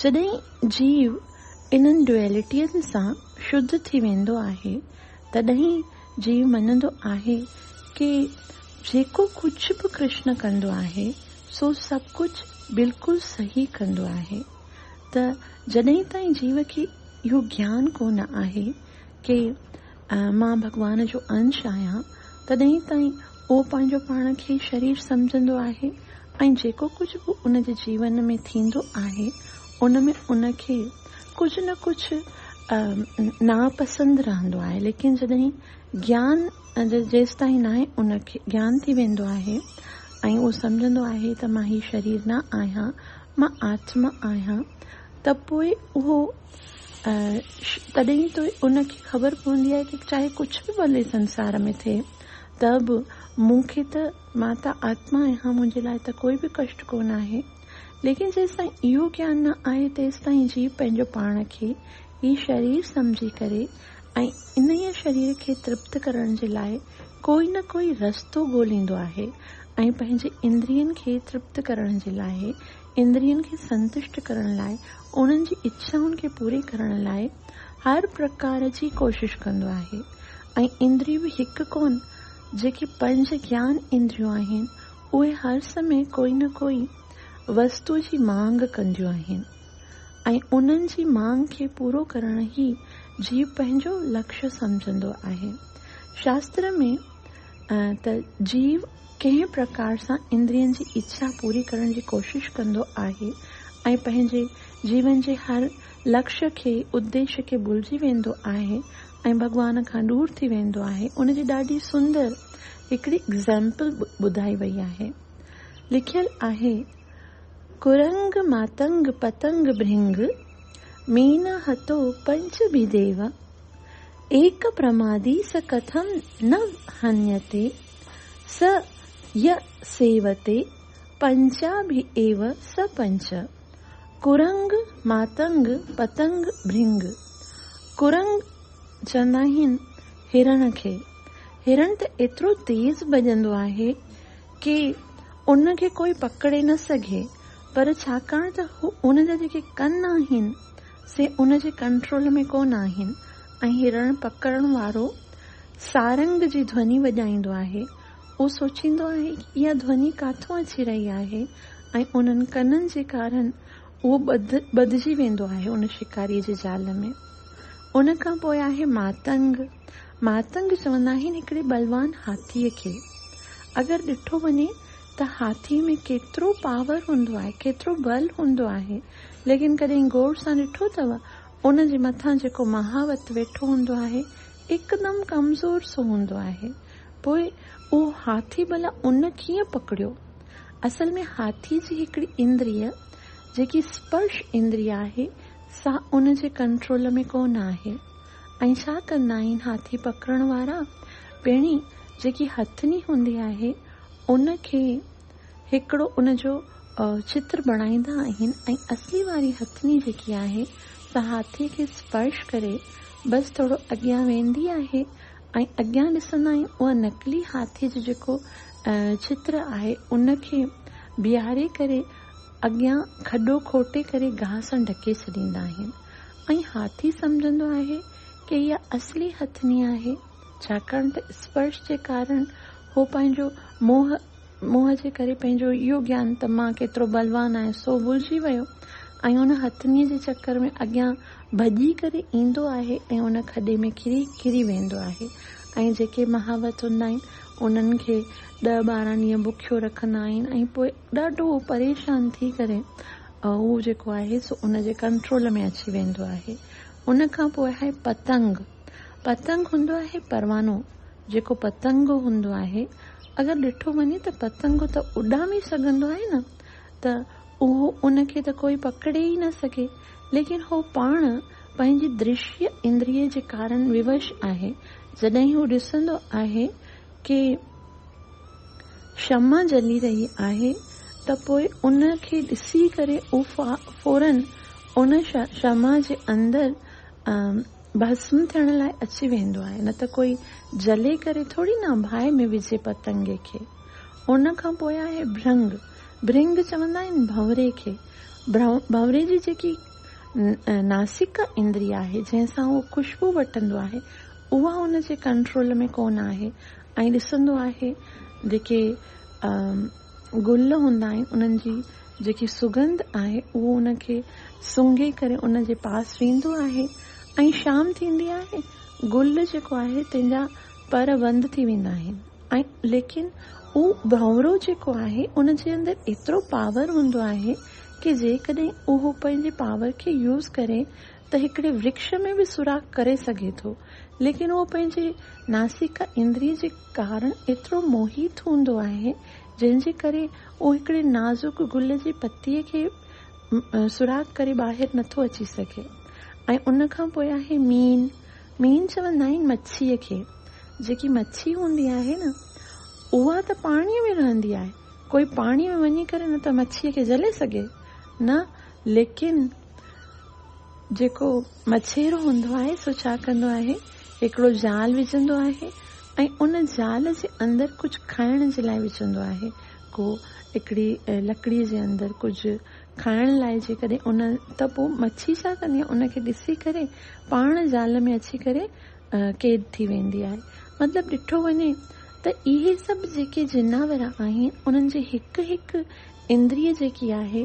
جڏهن جيو انهن ڊوئلٽين سان شدھ ٿي ويندو آهي، تڏهن جيو مڃندو آهي ڪي جيڪو ڪجھ به ڪرشن ڪندو آهي، سو سڀ ڪجھ بلڪل صحيح ڪندو آهي. ته جڏهن تائين جيو کي اهو گيان ڪونه آهي ڪي ۽ مان ڀڳوان جو انش آهيان، تڏهن تائين اهو پنهنجو پاڻ کي شرير سمجهندو آهي ۽ جيڪو ڪجهه به ان جي جيون ۾ ٿيندو آهي، ان ۾ ان کي ڪجهه نه ڪجهه ناپسند رهندو آهي، ليڪن جڏهن گيان جيستائين ناهي ان کي گيان ٿي ويندو آهي ۽ اهو سمجهندو آهي ته مان هي شرير نه آهيان، مان آتما آهيان، ته پوء اهو ۽ تڏهن ئي ته ان کي خبر پوندي آهي ته چاهي ڪجهه به ڀلي سنسار ۾ ٿئي ته به مون کي ته مان ته آتما آهيان منهنجي لاء ته ڪوئي به ڪشٽ ڪونه آهي. ليڪن جيستائين اهو گيان نه آهي تيستائين جيو پنهنجو پاڻ کي ئي شرير سمجهي ڪري ۽ انهيء شرير کي ترپت ڪرڻ جي لاء ڪوئي نه ڪوئي رستو ڳوليندو آهي ۽ پنهنجي اندرين کي ترپت ڪرڻ جي لاء اندرين کي سنتشٽ ڪرڻ لاء، انهن جي اڇائن کي پوري ڪرڻ لاء هر پرڪار جي ڪوشش ڪندو آهي ۽ اندريون به هڪ ڪونه، جيڪي پنج گيان اندريون آهن، اهي هر سمي ڪوئي نه ڪوئي وستو جي مانگ ڪنديون آهن ۽ انهن جي مانگ کي پورو ڪرڻ ئي جيو پنهنجو لڪش سمجهندو آهي. شاستر ۾ ته جيو ڪنهن پرڪار سان اندرين جي اڇا پوري ڪرڻ جي ڪوشش ڪندو آهي ۽ پنهنجي جيون جي هر لڪش کي، اديش کي ڀلجي ويندو آهي ۽ ڀڳوان کان ڏور ٿي ويندو آهي، ان جي ڏاڍي سندر هڪڙي Example ٻڌائي وئي آهي. لکيل آهي، ڪرنگ ماتنگ پتنگ ڀرنگ، مين هتو پنچ ڀي ديو، ايڪ پرمادي س ڪٿم نه هنيتي. س ي سيوتي پنچا ڀي ايو س پنچ، ڪرنگ ماتنگ پتنگ ڀرنگ، ڪرنگ چوندا آهن هرڻ کي، هرڻ ته ايترو تيز ڀڄندو آهي ڪي ان کي ڪوئي پڪڙي نه سگهي پر ڇاڪاڻ ته هو ان جا جيڪي ڪن آهن سي ان جي ڪنٽرول ۾ ڪونه آهن ۽ هي رڻ پڪڙڻ وارو سارنگ جي ڌوني وڄائيندو آهي. هو سوچيندو آهي ته اها ڌوني ڪاٿون اچي رهي آهي ۽ انهن ڪنن جي ڪارڻ اهو ٻڌ ٻڌجي ويندو آهي ان شڪاريء جي جال ۾. ان کان پوء آهي ماتنگ. ماتنگ چوندا آهن هڪڙي بلوان هاٿيء کي اگر ڏٺو وڃي ته هاٿي ۾ ڪيترو پاور هوندو آهي ڪيترو بل هوندو آهي ليڪن ڪڏهن غور سان ڏٺو اٿو ان جي مٿان جيڪو مهاوت ويٺو هوندو آهي هڪدم ڪمزور سو هوندو آهي پوء اهو هاٿي ڀلا ان ڪيئن پڪڙيو اصل ۾ هاٿي جي هڪڙي اندري جيڪي سپرش اندري آهي سا ان جي ڪنٽرول ۾ ڪونه آهي ۽ ڇا ڪندا آهن هاٿي پڪڙڻ وارا؟ پيڻي جيڪي هٿني هوندي آهي ان کي هڪڙو ان جو چتر بڻائيندا آهن ۽ اصلي واري هٿني جيڪي آهي سا هاٿي کي اسپرش ڪري بس ٿورو اڳيان ويندي آهي ۽ اڳيان ڏسندا آهيون اها نقلي هاٿي جو جيڪو چتر آهي ان کي بيهاري ڪري اڳيان کڏو کوٽي ڪري گاهه سان ڍڪي ڇڏيندا آهن. ۽ هاٿي سمجهندو آهي ڪي اها اصلي هٿني آهي، ڇاڪاڻ ته اسپرش جي ڪارڻ هو پنهنجو موهه، موهه جي ڪري پنهنجو اهو گيان ته مان ڪيترو بلوان آهيان سو ڀلجي ويو ۽ ان هٿني جي چڪر ۾ اڳيان ڀڄي ڪري ايندو آهي ۽ ان کڏي ۾ ڪري ڪري ويندو آهي ۽ جيڪي مهاوت هوندا آهن انهن کي ڏهه ٻارهن ڏينهن بکيو رکندا آهن ۽ پوء ڏاڍو پريشان ٿي ڪري اهو جيڪو آهي سو ان جي ڪنٽرول ۾ اچي ويندو آهي. ان کان پوء آهي پتنگ. پتنگ هوندو آهي پروانو. جيڪو پتنگ هوندو آهي اگر ڏٺو وڃي ته پتنگ ته اڏامي سگهندو آهي نه ته اهو ان کي ته ڪوئي پڪڙي ئي نه سگهي ليڪن هو پاڻ پنهنجي درشيه اندريه جي ڪارڻ ووش آهي جڏهن هو ڏسندو آهي ڪي شمع جلي رهي آهي ته پوء ان کي ڏسي ڪري اهو فوراً ان شمع جي اندر ڀسم ٿيڻ لاء اچي ويندو آهي نه ته ڪوئي جلي ڪري ٿوري نه ڀائي ۾ وجهي پتنگي کي. ان کان پوء آهي ڀرنگ. ڀرنگ چوندا آهن ڀنوري کي. ڀنوري جي جيڪي ناسيڪا اندري آهي جنهن سان اهو خوشبو وٺندو آهي اها ان جي ڪنٽرول ۾ ڪونه آهي ۽ ڏسندو آهي جيڪي گل هوندا آهن انهن جي جيڪي سگنڌ آهي اهو ان کي سونگهي ڪري ان جي پاس ويندو آهي ۽ شام ٿيندي آهي گل جيڪو آهي تنهن جا پر بند ٿي ويندا آهن ۽ ليڪن هو ڀنورو جيڪو آهي ان جي اندر ايترو پاور هوندو آهي ڪي جيڪڏهن اهو پنهنجي پاور کي يوز ڪري ته هڪڙي ورڪش ۾ به سوراخ ڪري سگهي ٿو، ليڪن اهو پنهنجي ناسيڪا اندري جي ڪارڻ ايترو موهيت هوندو آهي، جنهن جي ڪري اهو هڪڙي نازڪ گل جي پتيء کي به سوراخ ڪري ٻاهر نه ٿو اچي سگهي. ۽ ان کان پوء آهي مين. مين چوندا آهن مڇيء کي. جيڪي مڇي هوندي آهي نه، اها ته پاڻيء ۾ رهندي آهي. ڪوئي پاڻيء ۾ وڃي ڪري نه ته مڇيء کي جهلي سگهي، نه ليڪن. جيڪو مڇيرو هوندو آهي سو ڇا ڪندو آهي هڪڙو جال وجهندو آهي ۽ ان جال جي اندر ڪجهه کائڻ جي لاء وجهندو آهي ڪو هڪڙي لڪڙي جي اندر ڪجهه کائڻ لاء جيڪڏهن ان ته پوء مڇي ڇا ڪندي آهي ان کي ڏسي ڪري پاڻ جال ۾ اچي ڪري قيد ٿي ويندي آهي مطلب ڏٺو وڃي ته اهي سڀ جيڪي جناور آهن انهن جي هڪ هڪ اندري جيڪي آهي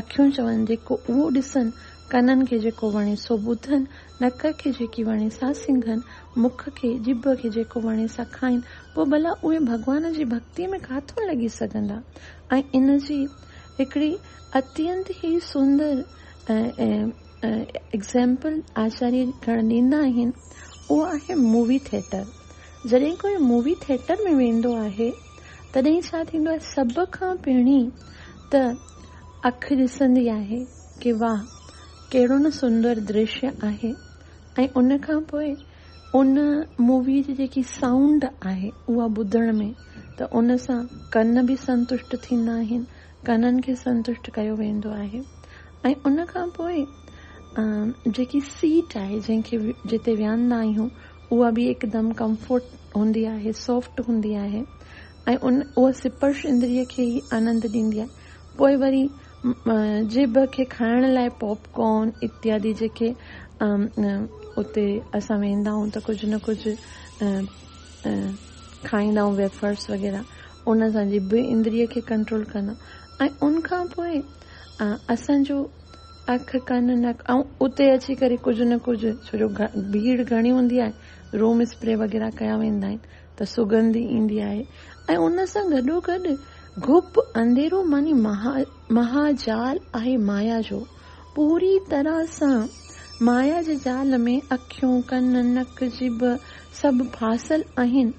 اکيون چون جيڪو اهو ڏسن، ڪنن کي جيڪو وڻي سو ٻڌن، نڪ کي جيڪي وڻي سا سنگهن، مک کي، ڄڀ کي جيڪو وڻي سا کائين، پوء ڀلا اهي ڀڳوان جي ڀڳتيء ۾ ڪاٿو لڳي سگهندا؟ ۽ ان جي هڪڙي اتينت ئي سندر ايگزيمپل آچاريه گڻ ڏيندا آهن، اهو آهي مووي ٿيٽر. جڏهن ڪوئي مووي ٿيٽر ۾ ويندو آهي، تڏهن ڇا ٿيندو آهي، سڀ کان پهرين ته اک ڏسندي آهي ڪي واه ڪهڙو نه سندر درشيا آهي ۽ ان کان پوء ان مووي جي جيڪي سائونڊ آهي اها ٻڌڻ ۾ ته ان سان ڪن به سنتشٽ ٿيندا آهن ڪنن کي سنتشٽ ڪيو ويندو آهي ۽ ان کان پوء جيڪي سيٽ آهي جنهن کي جتي ويهندا آهيون اها به هڪدم ڪمفورٽ هوندي آهي سافٽ هوندي آهي ۽ اهو سپرش اندريء کي ئي آنند ڏيندي آهي. پوء وري جيڀ کي کائڻ لاء پاپ ڪارن اتيادي جيڪي اتي اسان ويندا آهيون ته ڪجهه نه ڪجهه کائيندا آهيون ويفرس وغيره ان سان جيڀ اندريء کي ڪنٽرول ڪندا ۽ ان کان پوء اسان جو اک ڪن نڪ ۽ اتي اچي ڪري ڪجهه نه ڪجهه ڇو جو ڀيڙ گهڻي هوندي آهي روم اسپري وغيره ڪيا ويندا آهن ته سڳنڌ ايندي آهي ۽ ان سان گڏوگڏ گپ انديرو معني مهاجال آهي مايا جو. پوريء طرح سان مايا جي جال ۾ اکيون، ڪن، نڪ، جيڀ سڀ ڦاسيل آهن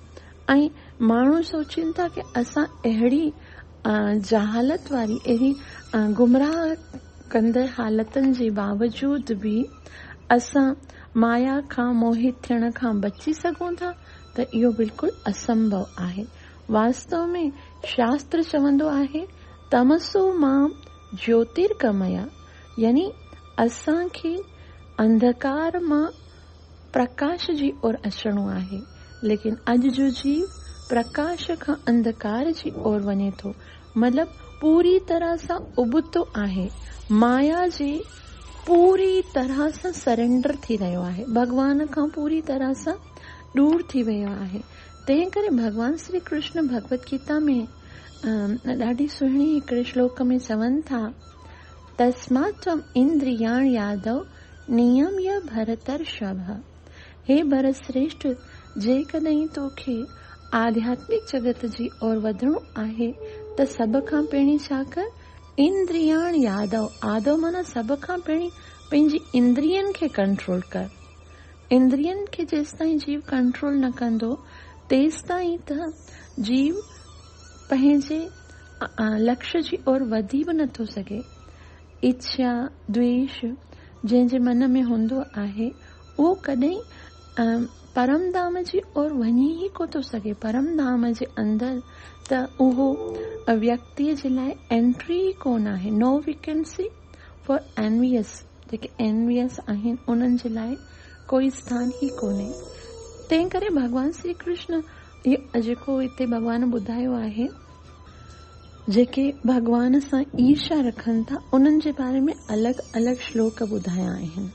۽ ماڻهو سوچين ٿا ته اسان اهڙي جهالت واري، اهڙي گمراهه ڪندڙ حالتن جي باوجود به اسان مايا کان موهت ٿيڻ کان بچي سگهون ٿا. ته اهو بلڪل اسمڀو آهي. واستو ۾ شاستر چوندو آهي، تمسو مام جيوترگميا يعني اسان کي انڌڪار مان پرڪاش جي اور اچڻو آهي. ليڪن اڄ جو جيو پرڪاش کان انڌڪار جي اور وڃي ٿو مطلب پوري طرح سان ابتو آهي مايا جي پوري طرح سان سرينڊر ٿي رهيو آهي، ڀڳوان کان پوري طرح سان ڏور ٿي ويو آهي، تنهن ڪري ڀڳوان شري ڪرشن ڀڳوت گيتا ۾ ڏاڍي سهڻي هڪڙي شلوڪ ۾ چون ٿا، تسمات توم اندرياڻ يادو نيميه ڀرترشڀ، هي ڀرت شريشٺ جيڪڏهن تو کي آڌياتمڪ جڳت جي اور وڌڻو آهي ته سڀ کان پهرين ڇا ڪر، اندرياڻ يادو آدو معنيٰ سڀ کان پهرين پنهنجي اندرين کي ڪنٽرول ڪر. اندرين کي جيستائين جيو ڪنٽرول نه ڪندو تيستائين ته جيو پنهنجي لڪش جي اور وڌي به نه ٿو سگهي. اڇيا، دويش، جنهن جي من ۾ هوندو آهي اهو ڪڏهن ئي پرم ڌام جي اور وڃي ئي ڪو ٿو سگهي. پرم ڌام جي اندر ته اهو ويڪتيء جي لاء انٽري ئي ڪونه آهي. نو ويڪنسي فار اينويئس، جيڪي اينويئس آهن انهن جي لاء ڪوئي اسٿان ئي ڪونهي. تنهن ڪري ڀڳوان شري ڪرشن جيڪو هتي ڀڳوان ٻڌايو آهي، جيڪي ڀڳوان سان عيرشا رکن ٿا انهن جي باري ۾ الڳ الڳ شلوڪ ٻڌايا آهن.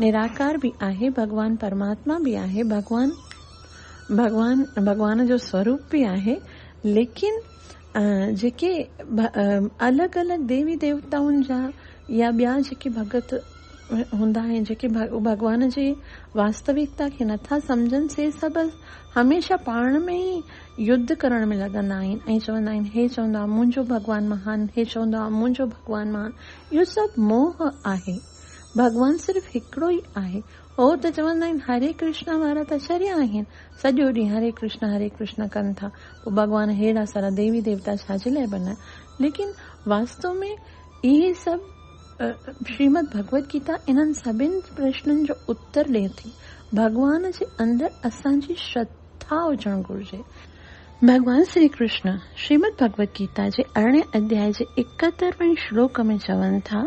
نراڪار به آهي، ڀڳوان پرماتما به آهي، ڀڳوان ڀڳوان ڀڳوان جو سوروپ به آهي، ليڪن جيڪي الڳ الڳ ديوي ديوتائن جا يا ٻيا جيڪي ڀڳت هوندا آهن، جيڪي ڀڳوان جي واستوڪتا کي نٿا سمجهن، سي سڀ هميشه پاڻ ۾ ئي يڌ ڪرڻ ۾ لڳندا آهن ۽ چوندا آهن، هي چوندو آهي منهنجو ڀڳوان مهان، هي چوندو آهي منهنجو ڀڳوان مهان، اهو سڀ موهه آهي، ڀڳوان صرف هڪڙو ئي آهي. هو ته چوندا آهن هري ڪرشنا وارا ته شريا آهن، سڄو ڏينهن هري ڪرشنا هري ڪرشنا ڪن ٿا، پوء ڀڳوان ههڙا سارا ديوي ديوتا ڇا جي لاء بنيا؟ ليڪن واستو ۾ اهي سڀ شريمد ڀڳوت گيتا انهن سڀني پرشنن جو اتر ڏئي ٿي. ڀڳوان جي اندر اسان جي شرڌا هجڻ گهرجي. ڀڳوان شري ڪرشنا شريمد ڀڳوت گيتا جي ارڙهين اڌيائي جي ايڪهتر وين شلوڪ ۾ چون ٿا.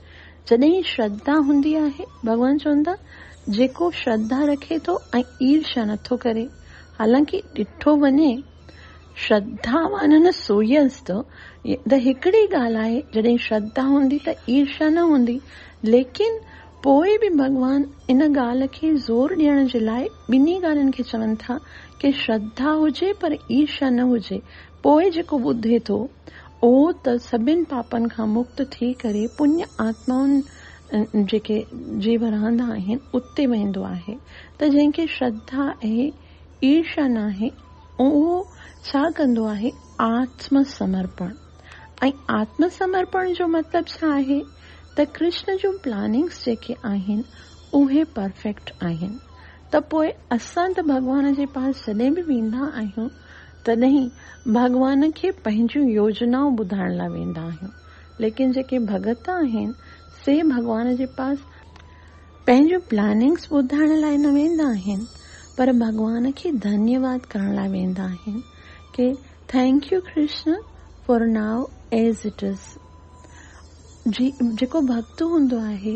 جڏهن شرڌا هوندي آهي، ڀڳوان چون ٿا، جيڪو شرڌا رکي ٿو ۽ عيرشا نه ٿو ڪري. حالانڪ ڏٺو وڃي، شرڌاوانن سوئيس ته هڪڙي ڳالهه آهي، جڏهن شرڌا هوندي ته عيرشا نه هوندي، ليڪن پوء به ڀڳوان ان ڳالهه کي زور ڏيڻ جي لاء ٻنهي ڳالهين کي چون ٿا ڪي شرڌا هجي پر عيرشا نه هجي، پوء جيڪو ٻڌي ٿو، اهو ته سڀن پاپن کان مڪت ٿي ڪري پڃ آتمائن جيڪي جي ورهندا آهن، اتي ويندو آهي، ته جنهن کي شرڌا ۽ عيرشا ناهي، اهو ڇا ڪندو آهي؟ آتم سمرپڻ. ۽ آتم سمرپڻ جو مطلب ڇا آهي؟ ته ڪرشن جون پلاننگس جيڪي آهن، اهي پرفيڪٽ آهن. ته پوء اسان ته ڀڳوان جي پاس جڏهن به ويندا آهيون، تڏهن ڀڳوان کي پنهنجون يوجنائون ٻڌائڻ لاء ويندا آهيون. ليڪن جيڪي ڀڳت آهن سي ڀڳوان جي پاس پنهنجون پلاننگس ٻڌائڻ لاء نه ويندا آهن پر ڀڳوان کي ڌنيه واد ڪرڻ لاء ويندا آهن ڪي thank you Krishna for now as it is جي جيڪو ڀڳت هوندو آهي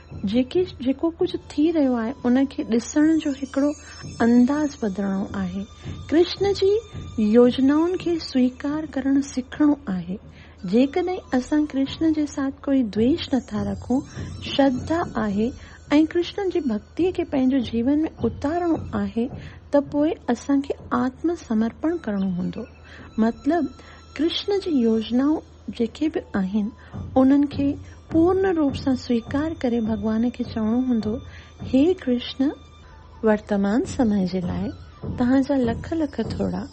جيڪي جيڪو ڪجهه ٿي رهيو آهي ان کي ڏسڻ جو هڪڙو انداز بدلڻو آهي. ڪرشن جي يوجنائن کي سويڪار ڪرڻ سکڻو آهي. جيڪڏهن اسان ڪرشن جي ساٿ ڪوئي دويش نٿا رکون، شرڌا آهي ۽ ڪرشن جي ڀڳتي کي پنهنجو جيون ۾ اتارڻو آهي ته پوء اسان کي آتم سمرپڻ ڪرڻو هوندو. مطلب ڪرشن جي يوجنائون جيڪي به آهن انهن کي پورن روپ سان سويڪار ڪري ڀڳوان کي چوڻو هوندو هي ڪرشن! ورتمان سمئي جي لاء توهان جا لک لک ٿورا.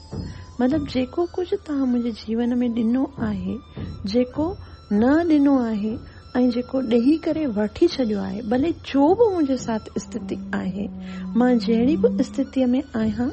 مطلب جيڪو ڪجهه توهان منهنجي جيون ۾ ڏنو آهي، جيڪو نه ڏنو آهي ۽ جيڪو ڏيئي ڪري وٺي ڇڏيو آهي، ڀلي جو به منهنجي ساٿ استٿي آهي، مان جهڙي به استٿيء ۾ آهيان،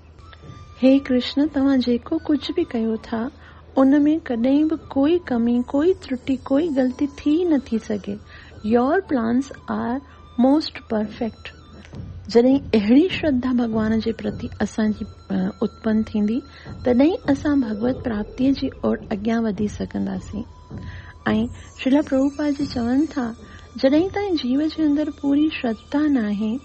هي ڪرشن توهان جيڪو ڪجهه به ڪيو ٿا ان ۾ ڪڏهن به ڪوئي ڪمي ڪوئي ترٽي ڪوئي غلطي ٿي ئي نه ٿي سگهي your plans are most perfect. جڏهن اهڙي شرڌا ڀڳوان جي پرتي اسان جي اتپن ٿيندي تڏهن ئي اسان ڀڳوت پراپتيء جي اوڙ اڳيان وڌي سگهنداسين ۽ شريلا پرڀوپاد جي چون ٿا جڏهن تائين جيو جي اندر پوري شرڌا ناهي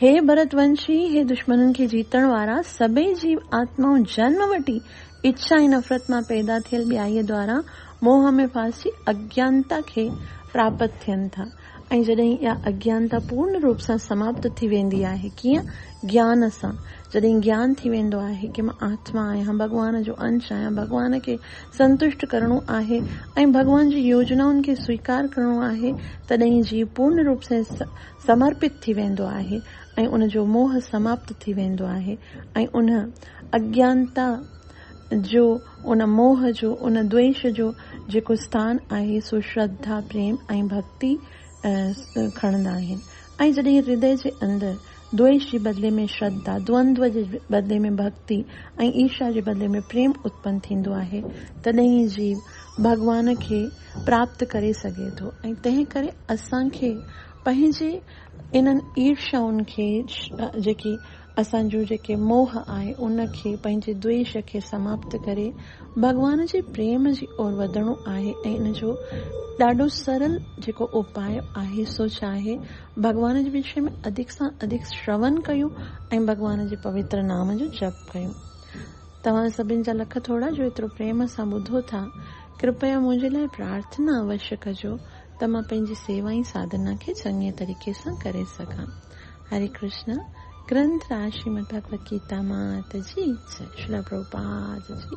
هي ڀرت ونشي، هي دشمنن کي جيتڻ وارا، سڀئي جيو آتمائون جنم وٺي اڇا ۽ نفرت مان پيدا ٿيل ٻيائيء دواران موهه ۾ ڦاسجي اگيانتا کي پراپت ٿين ٿا ۽ جڏهن اها اگيانتا پورن روپ سان سماپت ٿي ويندي آهي، ڪيئن؟ گيان سان، جڏهن گيان ٿي ويندو آهي ڪي مان آتما آهيان، ڀڳوان جو انش آهيان، ڀڳوان کي سنتشٽ ڪرڻو آهي ۽ ڀڳوان جي يوجنائن کي سويڪار ڪرڻو آهي، تڏهن ئي جيو پورن روپ سان سمرپت ٿي ويندو آهي ۽ ان جو موهه سماپت ٿي ويندو آهي ۽ ان اجنتا جو، ان موهه جو، ان دويش جو جيڪو اسٿان آهي سو شرڌا، پريم ۽ ڀڳتي کڻندا آهن ۽ جڏهن هردي جي اندر دويش جي بدلي ۾ شرڌا، دوندوه جي بدلي ۾ ڀڳتي ۽ ايرشا جي بدلي ۾ پريم اتپن ٿيندو آهي تڏهن ئي جيو ڀڳوان کي پراپت ڪري سگهي ٿو ۽ تنهن ڪري اسان کي پنهنجي انهن عيرشائن کي جيڪي اسان جون جيڪي موهه آهي ان کي پنهنجي دويش کي سماپت ڪري ڀڳوان جي پريم جي اور وڌڻو آهي ۽ ان جو ڏاڍو سرل جيڪو اپاء آهي سو ڇا آهي ڀڳوان جي وشي ۾ اڌڪ سان اڌڪ شرون ڪيون ۽ ڀڳوان جي پوتر نام جو جپ ڪيون. توهان سڀن جا لک ٿورا جو ايترو پريم سان ٻڌو ٿا. ڪرپيا منهنجي لاء پرارٿنا اوش ڪجو ته مان پنهنجي سيوا ۽ ساڌنا کي چڱي طريقي سان ڪري سگهان. هري ڪرشنا. گرنٿ راج شريمد ڀڳوت گيتا مات جي جئي. شريلا پرڀوپاد جي.